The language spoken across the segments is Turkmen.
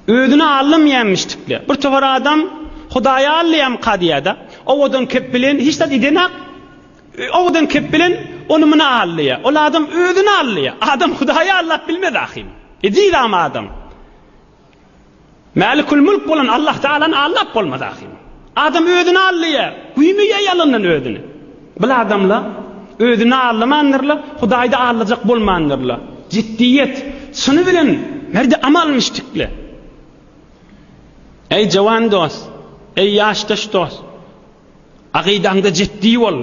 Özüne allym jämişdikler. Bir towar adam Hudaýa allýam kadýada. Owadan kep bilen hiç zat idenak. Owadan kep bilen ony muny allýa. Ol adam özüne allýa. Adam Hudaýa allap bilmez ahim. Edil am adam. Mälikül-Mülk bolan Allah Tagalany aldap bolmaz ahyryn. Adam özüni aldaýar, güýmeýär ýalandan özüni. Bil adamlar özüni aldamandyrlar, Hudaýy-da aldajak bolmandyrlar. Jiddiýet, çyny bilen merdi amal müşdikle. Eý jowan dost, eý ýaşdaş dost, agydaňda jiddi bol,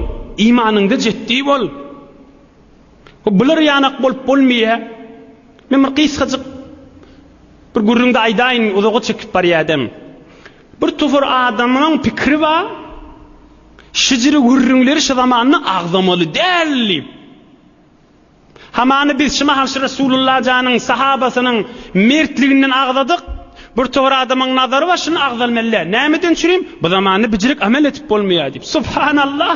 imanyňda jiddi bol. Bu bular ýanak bolup bolmaýa. Men bir gysgajyk bir gürrüňde aýdaýyn, uzaga çekip barýadem. Bir topar adamlaň pikiri ba, şijili gürrüňleri şu zamanda agzamaly däl diýip. Hamany biz şu mahal şu Resulullah janyň sahabasynyň mertliginden agzadyk, bir topar adamyň nazary ba şuny agzalmaly däl. Nämeden çürim? Bu zamanda bijirik amel etip bolmaýa diýip. Subhanallah!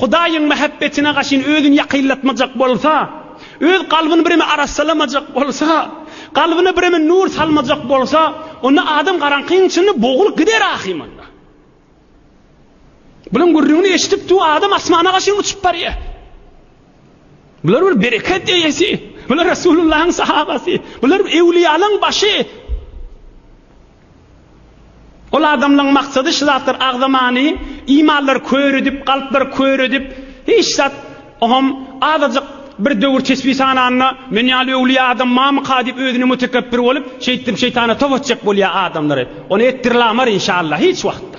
Hudaýyň mähebbetine gaşyn özüni ýakynlatmajak bolsa, öz kalbyny bireme arassalamajak bolsa, kalbyna bireme nur salmajak bolsa, onda adam garaňkyň içinde bogulyp gider ahymalla. Bularyň gürrüňini eşidip du adam asmana gaşyn uçup barýa. Bular bir bereket eýesi, bular Resulullahyň sahabasy, bular ewliýalaň başy. Ol adamlaryň maksady şu zatlar agzamany, imallary kör edip, kalplary kör edip, hiç zat, oňam azajyk bir döwür tesbi sananda, men ýaly öwlüýä adam mamyka diýip özüne mutekebbir bolup, şeýtdirip şeýtana top etjek bolýa adamlary. Ony etdirlamar inşallah hiç wagtda.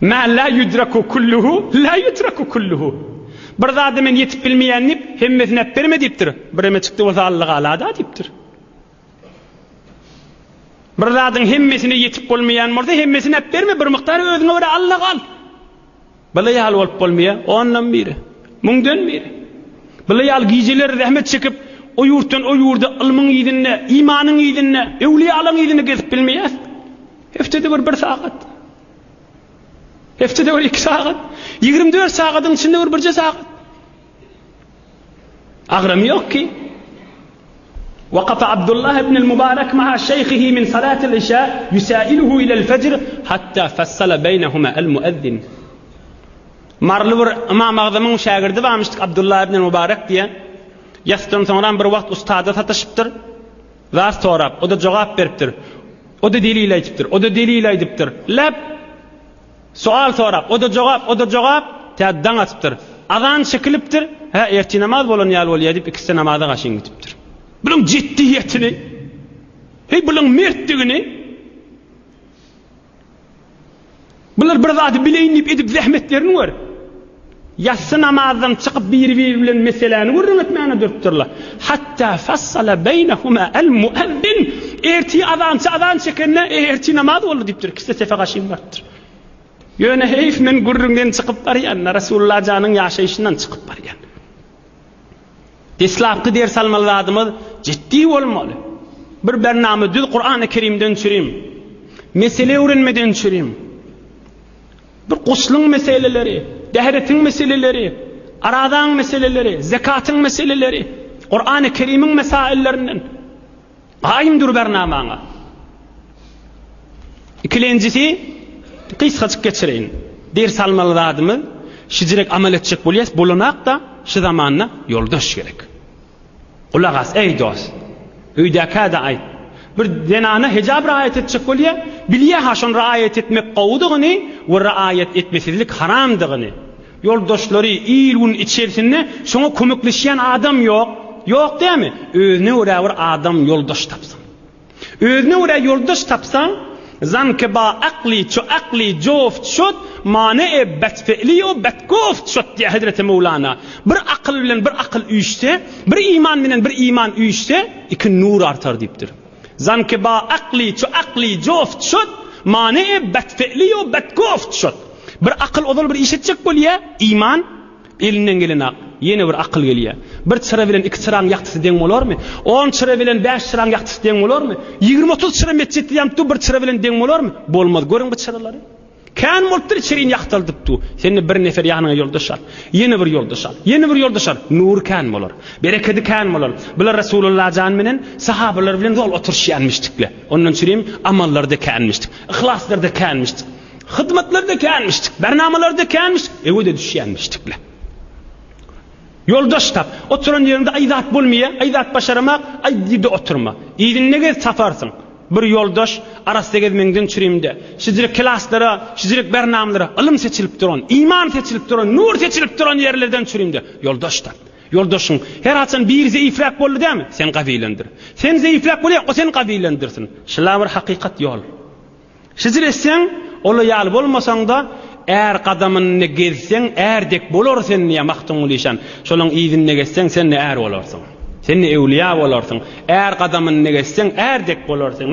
Mä lä ýüdreku kulluhu lä ýütreku kulluhu. Bir zada men ýetip bilmeýän diýip, hemmesini äpberme diýipdir. Bireme çykdy bolsa Allatagala-da diýipdir. Bir zadyň hemmesine ýetip bolmaýan bolsa hemmesini äpberme, bir mukdar özüňe görä Allaga al. Bala ýaly bolup bolmaýa, ondan biri, müňden biri. Bala ýaly gijeleri zähmet çekip, o ýurtdan o ýurda ylmyň yzynda, imanyň yzynda, öwliýalaň yzynda gezip bilmeýäs. Heftede bir bir sagat. Heftede bir iki sagat. Ýigrimi dört sagadyň içinde bir birje sagat. Agyrym ýok ki. Wakafa Abdullah ibn al-Mubarak ma'a şeýhihi min salat al-işa yusa'iluhu ila al-fajr hatta fassala beýnehuma al-muezzin. Marly bir Imam Agzamyň şägirdi barmyşdyk Abdullah ibn al-Mubarak diýen. Ýasydan soňra bir wagt ustada sataşypdyr. Zat sorap, o-da jogap beripdir. O-da delil aýdypdyr, o-da delil aýdypdyr. Läp Soal sorap, o-da jogap, o-da jogap, tä daň atypdyr. Azan çekilipdir, hä, ertir namaz bolan ýaly bolýa diýip, ikisi-de namaza gaşyn gidipdir. Bunuň jiddiýetini, heý, bunuň mertdigini, bular bir zady bileýin diýip edip zähmetlerini gör, Ýassy namazdan çykyp biri-biri bilen meseläni gürrüň etmäne durupdyrlar. Hatta fassala beýnehuma al-muezzin, Ertir azançy azan çekende, Ertir namaz boldy diýipdir, ikisi de sefe gaşyn barypdyr. Ýöne heýf men gürrüňden çykyp barýan-da, Resulullah janyň ýaşaýşyndan çykyp barýan. Deslapky ders almaly zadymyz jiddi bolmaly. Bir bernama düz Kurany Kerimden çürim. Mesele öwrenmeden çürim. Bu guslyň meseleleri, dehiretiň meseleleri, arazaň meseleleri, zekatyň meseleleri Kurany Kerimiň mesaillerinden. Aýym dur bernamaňa. Ikilenjisi gysgajyk geçireýin. Dir salmaly zadymyz, şijirek amal etjek bolýas, bolanak-da şu zamanda ýoldaş gerek. Gulak as, eý, dost! Öýdäkä-de aýt. Bir zenana hejap raýat etjek bolýa, bilýä-hä şony raýat etmek gowudygyny we raýat etmesizlik haramdygyny. Ýoldaşlary, il-gün içersinde şoňa kömekleşýän adam ýok. Ýok dämi? Özüne görä bir adam ýoldaş tapsyn. Özüne görä ýoldaş tapsaň, zanke ba akli ço akli jof çot mane e bet fe'li o bet gof çot diýýär hezreti Möwlana. Bir akyl bilen bir akyl üýşse, bir iman bilen bir iman üýşse, iki nur artar diýipdir. Zanke ba akli ço akli jof çot mane e bet fe'li o bet gof çot. Bir akyl ozal bir iş etjek bolýar, iman, Elinden gelenok. Ýene bir akyl gelýär. Bir çyra bilen iki çyraň ýagtysy deň bolarmy? On çyra bilen bäş çyraň ýagtysy deň bolarmy? Ýigrimi-otuz çyra metjitde ýanypdy, bir çyra bilen deň bolarmy? Bolmaz. Görüň bu çyralary. Kän bolupdyr içeriýini ýagtaldypdy. Sen-de bir nefer ýanyňa ýoldaş al. Ýene bir ýoldaş al. Ýene bir ýoldaş al. Nury kän bolar. Berekedi kän bolar. Bular Resulalla jan bilen, sahabalar bilen zol oturyşýanmyşdykle. Ondan çürim amallary-da känmişdik. Yhlaslar-da känmişdik. Hyzmatlarda känmişdik, bernamalarda känmiş, öwede düşýänmişdikle. Ýoldaş tap, oturan ýeriňde aý zat bolmaýa, aý zat başaramak, aý ýerde oturma. Yzyna gez taparsyň. Bir ýoldaş, arassa gezmeňden çürimde, şijirik klaslara, şijirik bernamalara, ylym seçilip duran, iman seçilip duran, nur seçilip duran ýerlerden çürimde, ýoldaş tap. Ýoldaşyň, her haçan biri zeýifräk boldy dämi, sen gawylandyr. Sen zeýifräk bolýaň, o seni gawylandyrsin. Şlabir hakykat ýol. Hijr etseň, ola ýaly bolmasaň-da, är gadamynda gezseň, är dek bolar sen, diýýär Magtymguly işan. Şolaň yzynda gezseň, sen-de är bolarsyň. Sen-de öwlüýä bolarsyň. Är gadamynda gezseň, är dek bolar sen.